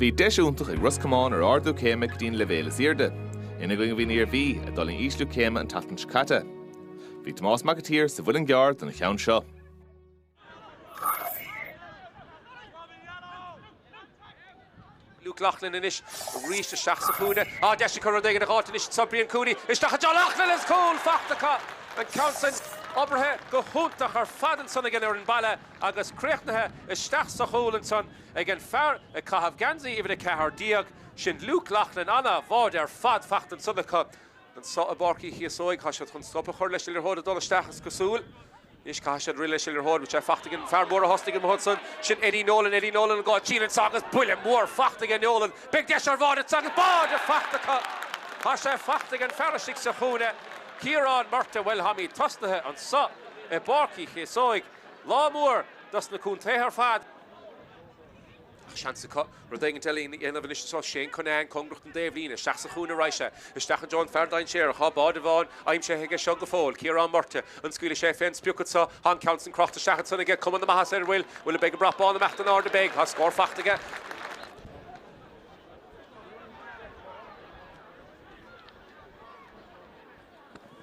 Bhí deis iontach ag Ros Comáin ar ardú céime go dtí an leibhéal is airde. Ina gcoinne bhí an Iarmhí, a d'fhulaing ísliú céime an tseachtain seo caite. Bhí Tomás Mac an tSaoir sa Mhuileann gCearr don cheann seo. Luke Loughlin anois arís isteach sa chúinne. Á, deis acu rud éigin a dh'fháilt anois anso. Brian Cooney isteach anso. Loughlin agus cúl faighte acu. An ceann san oibrithe go hiontach ar fad ansan ag an fhoireann baile agus críochnaithe isteach sa chúl ansan ag an fear ag caitheamh geansaí uimhir a ceathair déag, sin Luke Loughlin. Ana-bháide ar fad faighte ansan acu. Anso i bPáirc Uí Chíosóig, tá siad chun stop a chur leis an liathróid ag dul isteach, is cosúil. Anois caithfidh siad rith leis an liathróid, agus é faighte ag an fear mór a thosnaigh amuigh ansan. Sin Eddie Nolan, Eddie Nolan an goal, síneann seo agus buille mór faighte ag an Nolan. Beidh deis ar bháide anseo agus báide faighte acu! Tá sé faighte ag an fear istigh sa chúinne, Ciarán Murtagh. Bhuel táimid tosnaithe anseo i bPáirc Uí Chíosóig. Lá mór dos na contaetha ar fad. Ach seans acu rud éigin eile a dhéanamh anois is arís. Shane Cunnane cóngarach don dtaobhlíne isteach sa chúinne raghaidh sé isteach i dtreo an fear dainséarach. Tá báide amháin aimsithe aige seo go fóill, Ciarán Murtagh. An scaoilfidh sé fén sprioc anso? Tá an ceann san crochta isteach ansan aige. Cuma na maitheasa air, an bhfuil? Bhuel, an mbeidh an brat bán ag imeacht in airde, beidh. Tá scór faighte aige.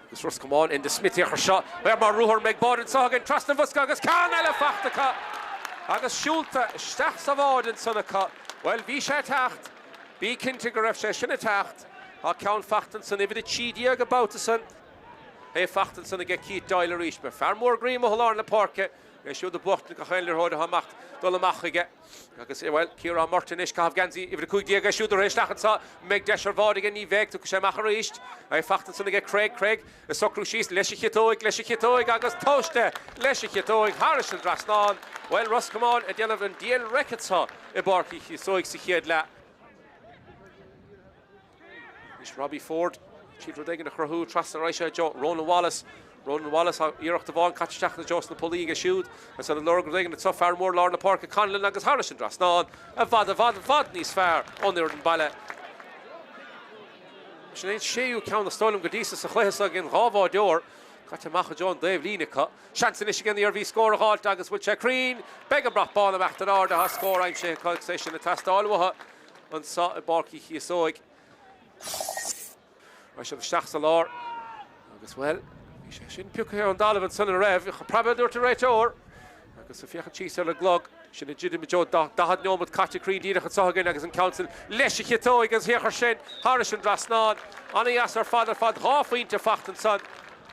Agus Ros Comáin Enda Smith isteach air seo, fear mór ruathar, an mbeidh báide anseo againn trasna an bhosca agus ceann eile faighte acu agus siúlta isteach sa bháide ansan acu. Bhuel, bhí sé ag teacht. Bí cinnte go raibh sé sin ag teacht. Tá ceann faighte ansan, uimhir a trí déag, an babhta san. É faighte ansan aige Keith Doyle arís. An fear mór groí amuigh i lár na páirce é siúd ag buachtaint gach aon liathróid atá amach, dul amach chuige. Agus, bhuel, Ciarán Murtagh anois, ag caitheamh geansaí uimhir a cúig déag é siúd ag rith isteach anseo, an mbeidh deis ar bháide aige, ní bheidh, tiocfaidh sé amach arís. É faighte ansan aige Cregg, Cregg ag socrú síos, leis a chiotóig, leis a chiotóig agus tomhaiste, leis a chiotóig, thairis an dtrasnán, bhuel, Ros Comáin ag déanamh an diail raic anseo i bPáirc Uí Chíosóig sa chéad leath. Anois Robbie Forde ag iarraidh rud éigin a chruthú trasna arís i dtreo Ronan Wallace. Ronan Wallace tá iarracht amháin caite isteach i dtreo sna pollaí aige siúd. Agus iad ag lorg rud éigin anseo. Fear mór lár na páirce Connellan agus thairis an dtrasnán i bhfad, i bhfad, i bhfad níos fearr ón fhoireann baile. Sin é an séú ceann is dóigh liom go dtí seo sa chluiche seo againn. Dhá imreoir caite amach i dtreo an dtaobhlíne acu. Seans anois ag an Iarmhí scór a dh'fháilt agus bhfuil sé cruinn? Beidh an brat bán ag imeacht in airde. Tá scór aimsithe acu agus é sin ag teastáil uathu. anseo i bPáirc Uí Chíosóig. Mar sin, isteach sa lár agus, bhuel, bhí sé sin pioctha ón dtalamh ansan a raibh a praibe, a dúirt an réiteoir agus ag féachaint síos ar an gclog. Sinn ag druidim i dtreo daichead nóiméad caite cruinn díreach anseo againn agus an Council leis a chiotóig an siocair sin thairis an trasnán. Ana-dheas ar fad ar fad, dhá phointe faighte ansan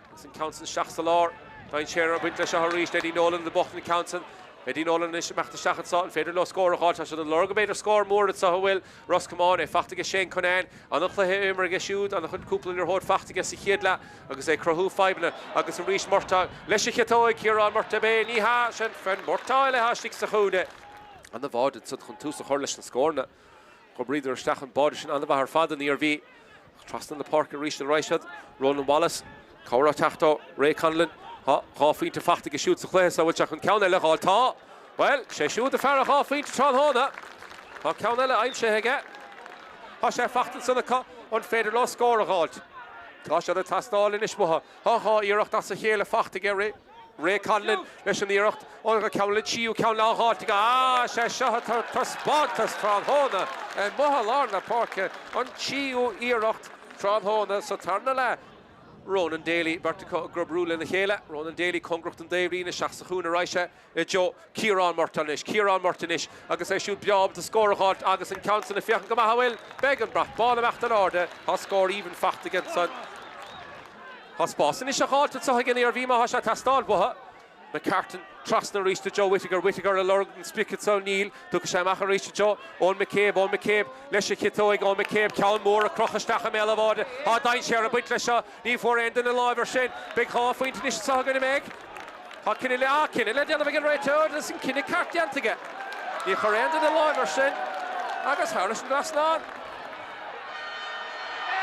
agus an Council isteach sa lár. Dein Sheeran ag baint leis seo arís, Eddie Nolan in the bottom of the Council. Eddie Nolan anois imeacht isteach anso, an féidir leo scór a dh'fháilt tá siad ag lorg mb'fhéidir scór mór anso a bhfuil Ros Comáin, é fachta aige Shane Cunnane, an-chluiche á imirt aige siúd, an-chuid cúpla liathróid fachta aige sa chéad leath agus é ag cruthú fadhbanna, agus arís Murtagh, leis a chiotóig Ciarán Murtagh Bé ní hea, sin Murtagh eile atá istigh sa chúinne. An-bháide ansan chun tús a chur leis na scóranna. Dh'oibríodar isteach an báide sin ana-mhaith ar fad an Iarmhí, ach trasna na páirce aríst a raghadh siad. Ronan Wallace, cabhair á teacht ó Ray Connellan. Tá dhá phointe fachta aige siúd sa chluiche so, an bhfuil sé chun ceann eile a dh'fháil? Tá! Bhuel, sé siúd fear an dhá phointe tráthnóna. Tá ceann eile aimsithe aige. Tá sé fachta ansan acu, an féidir leo scór a dh'fháilt? Tá siad ag teastáil anois uathu. Tá dhá iarracht as a chéile fachta aige, Ray. Ray Connellan leis an iarracht ó ceann eile, an tríú ceann le dh'fháilt aige. Sé seo ag tabhairt taispeántas tráthnóna amuigh i lár na páirce, an tríú iarracht tráthnóna sa tarna leath. Ronan Daly, beirt acu ag oibriú lena chéile, Ronan Daly, cóngarach don dtaobhlíne isteach sa chúinne ar ais i dtreo. Ciarán Murtagh anois. Ciarán Murtagh anois agus é siúd breá ábalta scór a dh'fháilt agus an ceann san ag féachaint go maith a' bhfuil? Beidh an brat bán ag imeacht in airde. Tá scór aoibhinn fachta aige ansan. Tá spás anois a dh'fháilt anso ag an Iarmhí má thá sé a' teastáil uathu. McCartan trasna aríst i dtreo Whittaker. Whittaker a' lorg an sprice anso. Níl. Tiocfaidh sé amach aríst i dtreo Eoghan McCabe. Eoghan McCabe leis a chiotóig. Eoghan McCabe, ceann mór á chrochadh isteach i mbéal a' bháide. Tá dainséar a' baint leis seo. Ní bhfuair aon duine láimh air sin. Beidh dhá phointe anois anseo againn, an mbeidh. Tá cinneadh le, ah, cinneadh le déanamh ag an réiteoir agus an cinneadh ceart déanta aige. Níor chuir aon duine láimh air sin agus thar leis an dtrasnán.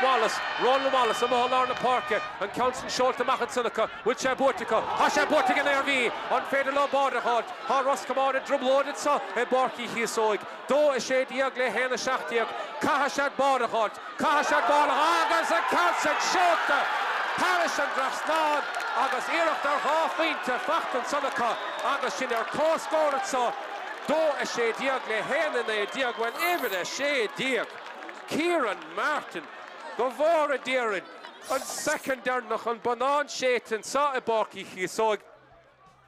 Wallace, Ronan Wallace amuigh i lár na páirce, an ceann sin seolta amach ansan acu. 'Bhfuil sé buaite acu? Tá sé buaite ag an Iarmhí! An féidir leo báide a fháilt? Tá Ros Comáin i dtrioblóid anseo i bPáirc Uí Chíosóig. 2 16 le 1 17. Caithfidh siad an bál a dh'fháilt, caithfidh siad an bál a dh'fháilt agus an ceann sin seolta thairis an dtrasnán agus iarracht ar dhá phointe faighte ansan acu agus sinn ar comhscór anso, 2 16 le 1 19. Bhuel, uimhir 16, Kieran Martin, go bhfóire Dia orainn, an soicind deireanach, an bonnán séidte anso i bPáirc Uí Chíosóig.